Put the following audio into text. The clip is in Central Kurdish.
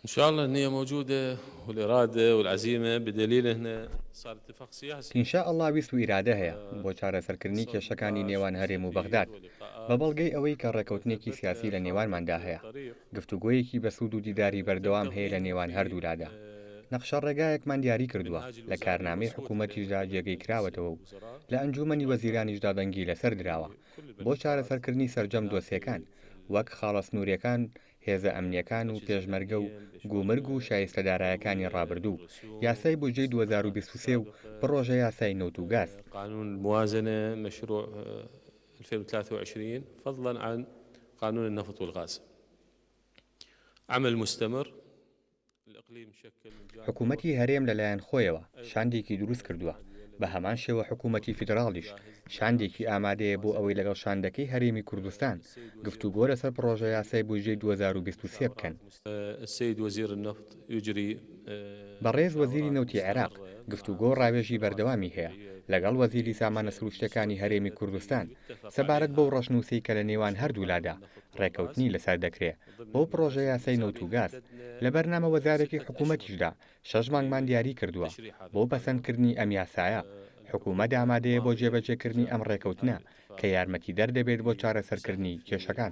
ان شاء الله النية موجودة والارادة والعزيمة بدليل احنا صار اتفاق سياسي. ان شاء اللە ویست و ئیرادە هەیە بۆ چارەسەرکردنی کێشەکانی نێوان هەرێم و بەغداد بە بەڵگەی ئەوەی کە ڕێکەوتنێکی سیاسی لە نێوانماندا هەیە گفتوگۆیەکی بەسوود و دیداری بەردەوام هەیە لە نێوان هەردوولادا نەقشە ڕێگایەکمان دیاری کردووە لە کارنامەی حکوومەتیشدا جێگەی کراوەتەوە و لە ئەنجوومەنی وەزیرانیشدا دەنگی لەسەر دراوە بۆ چارەسەرکردنی سەرجەم دۆسیەکان وەک خاڵە سنووریەکان هێزە ئەمنییەکان و پێشمەرگە و گومرگ و شایستە دارایەکانی ڕابردوو، یاسای بودجەی دوو هەزار و بیست و سێ و پڕۆژە یاسای نەوت و گاز. قانون الموازنە مشروع ألفين وتلاتە وعشرین فضلا عن قانون النفط والغاز عمل مستمر. حکوومەتی هەرێم لە لایەن خۆیەوە شاندێکی دروست کردووە، بە هەمان شێوە حکوومەتی فیدراڵیش شاندێکی ئامادەیە بۆ ئەوەی لەگەڵ شاندەکەی هەرێمی کوردستان گفتوگۆ لەسەر پڕۆژەیاسای بودجەی دوو هەزار و بیست و سێ بکەن. بەڕێز وەزیری نەوتی عێراق گفتوگۆ و ڕاوێژی بەردەوامی هەیە لەگەڵ وەزیری سامانە سرووشتییەکانی هەرێمی کوردستان سەبارەت بەو ڕەشنووسەی کە لە نێوان هەردوولادا ڕێککەوتنی لەسەر دەکرێ بۆ پڕۆژە یاسای نەوت و گاز، لە بەرنامە وەزارەتی حکوومەتیشدا شەش مانگمان دیاری کردووە بۆ پەسەندکردنی ئەم یاسایە، حکوومەت ئامادەیە بۆ جێبەجێکردنی ئەم ڕێکەوتنە کە یارمەتیدەر دەبێت بۆ چارەسەرکردنی کێشەکان.